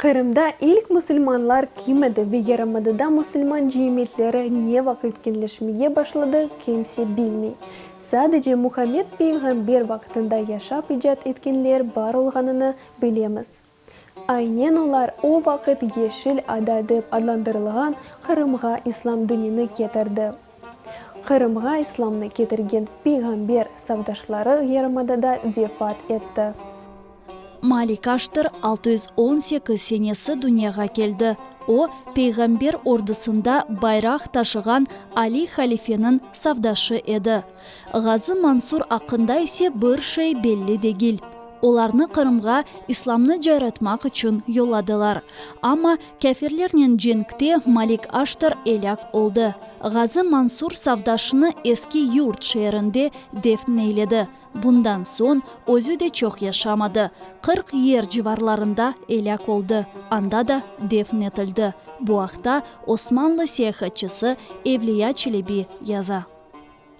Qırımda ilk musulmanlar kim edi ve yarımadada musulman cemiyetleri ne vaqıt keñleşmege başladı, kimse bilmey. Sadece Muhammed peyğamber vaqtında yaşap icat etkenler bar olğanını Bilemiz. Aynen olar o vaqıt Yeşil ada dep adlandırılğan Qırımğa İslam dinini ketirdi. Qırımğa İslamnı ketirgen peyğamber savdaşları yarımadada vefat etti. Malik Aştır altı yüz on sekiz senesi dünyağa keldi. O, peyğamber ordusında bayraq taşığan Ali halifeniñ savdaşı edi. Ğazu Mansur aqqında ise bir şey belli degil. Olarnı Qırımğa İslamnı cayratmaq içün yolladılar. Amma kâfirlernen cenkte Malik Aştır elâk oldı. Ğazu Mansur savdaşını Eski Yurt şeerinde defn eyledi. Bundan soñ özü de çoq yaşamadı, qırq yer civarlarında elâk oldı, anda da defn etildi. Bu aqta osmanlı seyahatçısı Evliya Çelebi yaza.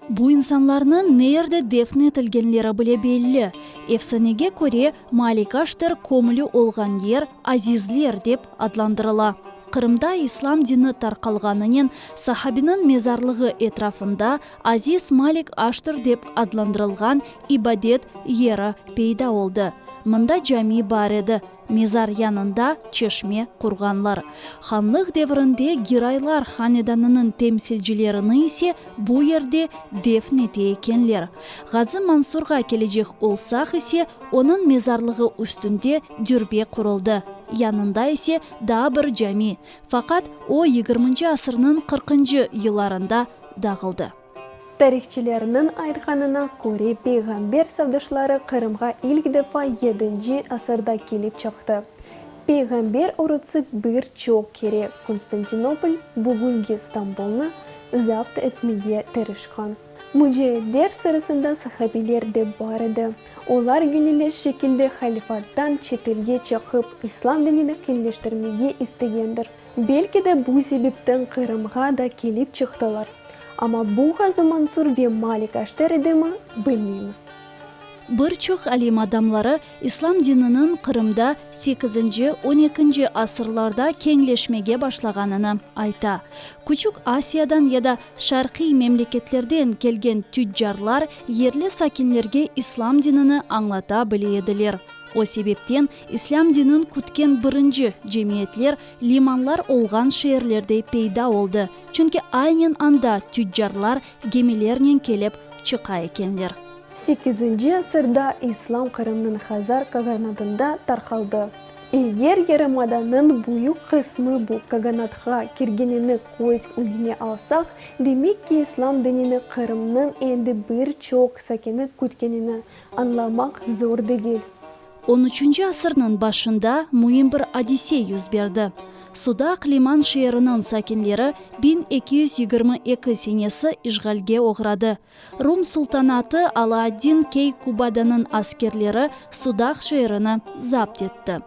Bu insanlarnıñ neerde defn etilgenleri bile belli. Efsanege köre, Malikaştır kömülü olğan yer Azizler dep adlandırıla. Qırımda İslam dini tarqalğanınen sahabiniñ mezarlığı etrafında Aziz Malik Aştır dep adlandırılğan ibadet yeri peyda oldı. Mında cami bar edi. Mezar yanında çeşme qurğanlar. Hanlıq devrinde Giraylar hanedanınıñ temsilcilerini ise bu yerde defn ete ekenler. Ğazı Mansurğa kelecek olsaq ise, onıñ mezarlığı üstünde dürbe quruldı, yanında ise daa bir cami, faqat o yigirminci asırnıñ qırqıncı yıllarında dağıldı. Tarihçilerniñ aytqanına köre, peyğamber savdışları Qırımğa ilk defa yedinci asırda kelip çıqtı. Peyğamber orutsı bir çoq kere Konstantinopol, bugünki İstanbulnı, zapt etmege tırışqan. Mücahitler sırasında sahabiler de bar edi. Olar gönüllü şekilde halifattan çetelge çıqıp, İslam dinini kengleştirmege istegendir. Belki de bu sebepten Qırımğa da kelip çıqtılar, amma bu Ğazı Mansur ve Malik Aşter edimi, bilmeymiz. Bir çoq alim adamları İslam dininiñ Qırımda sekizinci, on ekinci asırlarda keñleşmege başlağanını ayta. Küçük Asiyadan ya da şarqiy memleketlerden kelgen tüccarlar yerli sakinlerge İslam dinini añlata bile ediler, o sebepten İslâm dinin kütken birinci cemiyetler limanlar olğan şeerlerde peyda oldı, çünki aynen anda tüccarlar gemilernen kelip çıqa ekenler. Sekizinci asırda İslâm Qırımnıñ Hazar qaganatında tarqaldı. Eger yarımadanıñ büyük qısmı bu qaganatqa kirgenini köz ügüne alsaq, demek ki, İslâm dinini Qırımnıñ endi bir çoq sakini kütkenini añlamaq zor degil. On üçünci asırnıñ başında müim bir adise yüz berdi. Sudaq liman şeeriniñ sakinleri biñ eki yüz yigirmi eki senesi işğalge oğradı. Rum sultanatı Alaaddin Keykubadanıñ askerleri Sudaq şeerini zapt etti.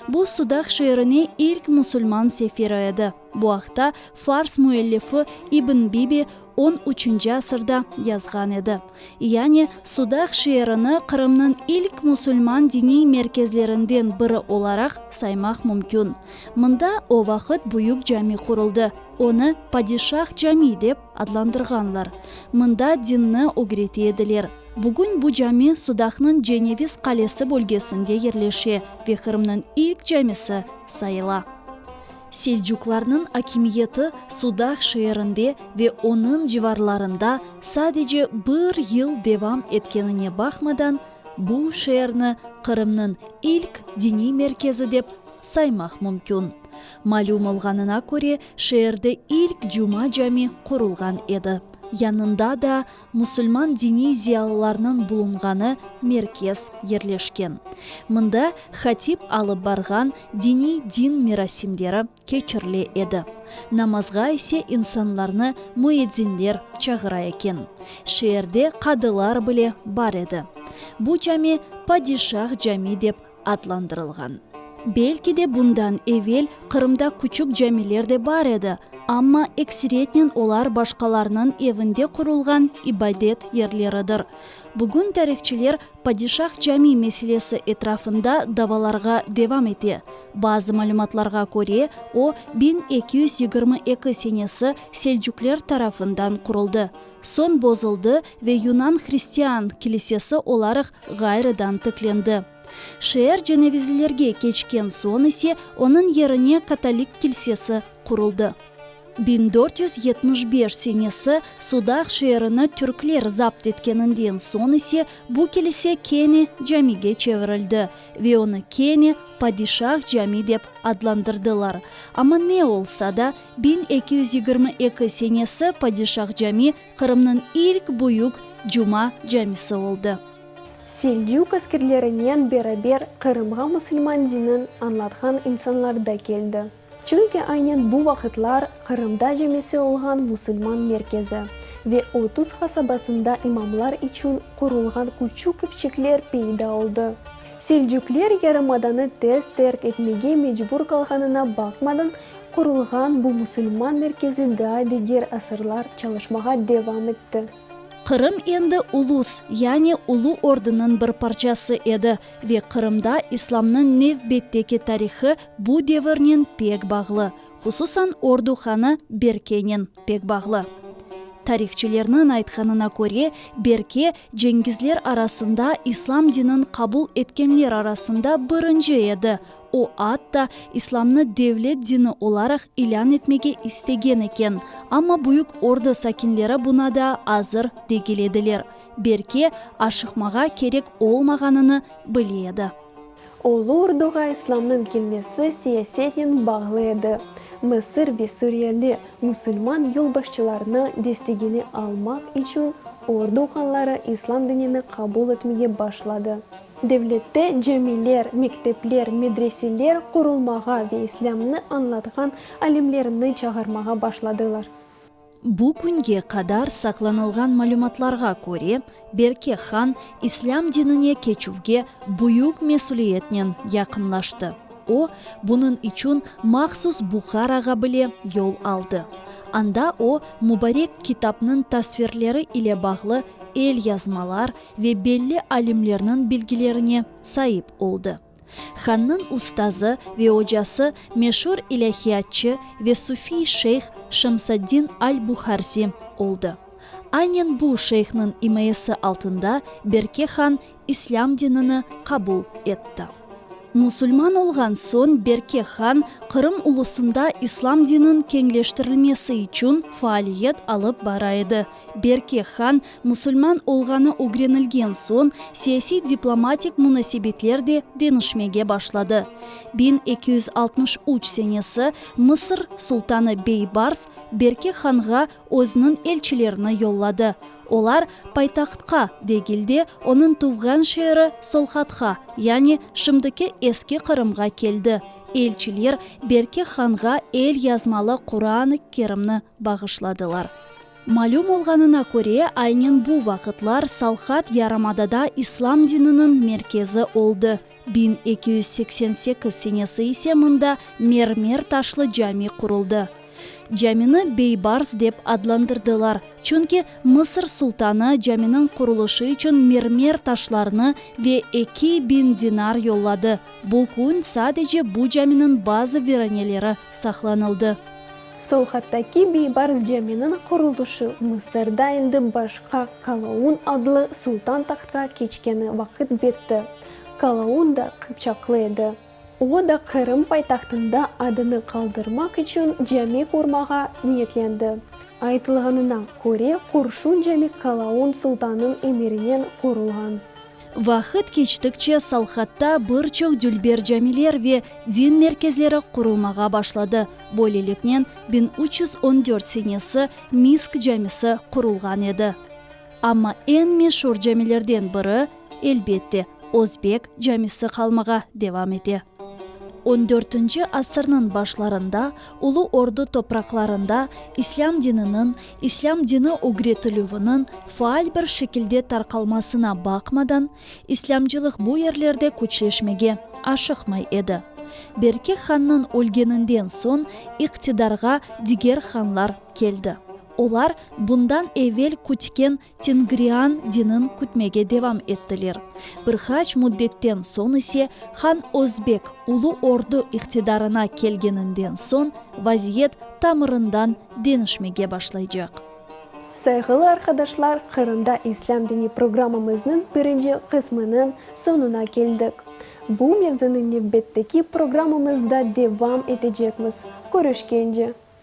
Bu Sudaq şeerine ilk musulman sefiri edi. Bu aqta fars müellifi İbn Bibi on üçünci asırda yazğan edi. Yani, Sudaq şeerini Qırımnıñ ilk musulman diniy merkezlerinden biri olaraq saymaq mümkün. Mında o vaqıt büyük cami quruldı, onı Padişah Camii dep adlandırğanlar. Mında dinni ögrete ediler. Bugün bu cami Sudaqnıñ Ceneviz qalesi bölgesinde yerleşe ve Qırımnıñ ilk camisi sayıla. Selcuqlarnıñ akimiyeti Sudaq şeerinde ve onıñ civarlarında sadece bir yıl devam etkenine baqmadan, bu şeerni Qırımnıñ ilk diniy merkezi dep saymaq mümkün. Malüm olğanına köre, şeerde ilk cuma cami qurulğan edi. Yanında da Musulman diniy ziyalılarnıñ bulunğanı merkez yerleşken. Mında hatip alıp barğan diniy din merasimleri keçirile edi. Namazğa ise insanlarnı müedzinler çağıra eken. Şeerde qadılar bile bar edi. Bu cami Padişah cami dep adlandırılğan. Belki de bundan evel Qırımda küçük camiler de bar edi, amma ekseriyetnen olar başqalarnıñ evinde qurulğan ibadet yerleridir. Bugün tarihçiler Padişah Camii meselesi etrafında davalarğa devam ete. Bazı malümatlarğa köre, o, biñ eki yüz yigirmi eki senesi Selcukler tarafından quruldı. Soñ bozuldı ve Yunan hristian kilisesi olaraq ğayrıdan tiklendi. Şeer cenevizlilerge keçken soñ ise onıñ yerine katolik kilsesi quruldı. Biñ dört yüz yetmiş beş senesi Sudaq şeerini türkler zapt etkeninden soñ ise bu kilise kene camige çevirildi ve onı kene Padişah cami dep adlandırdılar. Amma ne olsa da, Biñ eki yüz yigirmi eki senesi Padişah Cami Qırımnıñ ilk büyük Cuma camisi oldı. Seldük askerlerinen beraber Qırımğa musulman dinin añlatqan insanlar da keldi. Çünki aynen bu vaqıtlar Qırımda camisi olğan musulman merkezi ve otuz hasabasında imamlar içün qurulğan küçük evçikler peyda oldı. Seldükler yarımadanı tez terk etmege mecbur qalğanına baqmadan Qurulğan bu musulman merkezi daa diger asırlar çalışmağa devam etti. Qırım endi ulus, yani ulu ordunıñ bir parçası edi ve Qırımda İslamnıñ nevbetteki tarihı bu devirnen pek bağlı, hususan ordu hanı Berkenen pek bağlı. Tarihçilerniñ aytqanına köre, Berke, Cengizler arasında, İslam dinin qabul etkenler arasında birinci edi, O, atta, İslamnı devlet dini olaraq ilân etmege istegen eken, amma Büyük Orda sakinleri buna daa azır degil ediler, belki, aşıqmağa kerek olmağanını bile edi. Ulu Orduğa İslamnıñ kelmesi siyasetnen bağlı edi, Mısır ve Suriyeli musulman yolbaşçılarını destegine almaq içün Ordu hanları İslam dinini qabul etmege başladı. Devlette camiler, mektepler, medreseler qurulmağa ve İslâmnı añlatqan alimlerni çağırmağa başladılar. Bu künge qadar saqlanılğan malümatlarğa köre, Berke han İslâm dinine keçüvge büyük mesüliyetnen yaqınlaştı. O, bunıñ içün mahsus Buharağa bile yol aldı. Anda o, mübarek kitapnıñ tasvirleri ile bağlı el yazmalar, ve belli alimlerniñ bilgilerine saip oldı. Hannıñ ustazı ve ocası meşur ilâhiyatçı ve sufiy şeyh Şemsaddin al-Buharzi oldı. Aynen bu şeyhniñ imayesi altında Berke han islâm dinini qabul etti. Musulman olğan soñ Berke han Qırım ulusında islâm dininiñ keñleştirilmesi içün faaliyet alıp bara edi. Berke han musulman olğanı ögrenilgen soñ, siyasiy-diplomatik munasebetler de deñişmege başladı. Biñ eki yüz altmış üç senesi Mısır sultanı Beybars Berke hanğa özüniñ elçilerini yolladı. Olar paytahtqa degil de, onıñ tuvğan şeeri Solhatqa, yani şimdiki Eski Qırımğa keldi. Elçiler Berke hanğa el yazmalı Quran-ı Kerimni. bağışladılar. Malüm olğanına köre, aynen bu vaqıtlar Salhad yarımadada İslam dininiñ merkezi oldı, biñ eki yüz seksen sekiz senesi ise mında mermer taşlı cami quruldı. Camini Beybars dep adlandırdılar, çünki Mısır sultanı caminiñ qurulışı içün mermer taşlarını ve eki biñ dinar yolladı, bu kün sadece bu caminiñ bazı viraneleri saqlanıldı. Sovhattaki Biybarz Caminiñ qurulışı Mısırda endi başqa Kalaun adlı sultan tahtqa keçkeni vaqıt bitti. Kalaun da qıpçaqlı edi. O da Qırım paytahtında adını qaldırmaq içün cami qurmağa niyetlendi. Aytılğanına köre, Qurşun Cami Kalaun sultanıñ emirinen qurulğan. Vaqıt keçtikçe Salhatta bir çoq dülber camiler ve din merkezleri qurulmağa başladı, böyleliknen, biñ üç yüz on dört senesi Misk camisi qurulğan edi. Amma eñ meşur camilerden biri, elbette, Özbek camisi qalmağa devam ete. On dörtünci asırnıñ başlarında Ulu Ordu topraqlarında İslâm dininiñ, İslâm dini ögretilüviniñ faal bir şekilde tarqalmasına baqmadan, İslâmcılıq bu yerlerde küçleşmege aşıqmay edi. Berke hannıñ ölgeninden soñ iqtidarğa diger hanlar keldi. Olar bundan evel kütken Tengrian dinin kütmege devam ettiler. Bir qaç müddetten soñ ise, Han Özbek Ulu Ordu iqtidarına kelgeninden soñ, vaziyet tamırından deñişmege başlaycaq. Sayğılı arqadaşlar, Qırımda İslâm dini programmamıznıñ birinci qısmınıñ soñuna keldik. Bu mevzunı nevbetteki programmamızda devam etecekmiz. Körüşkence!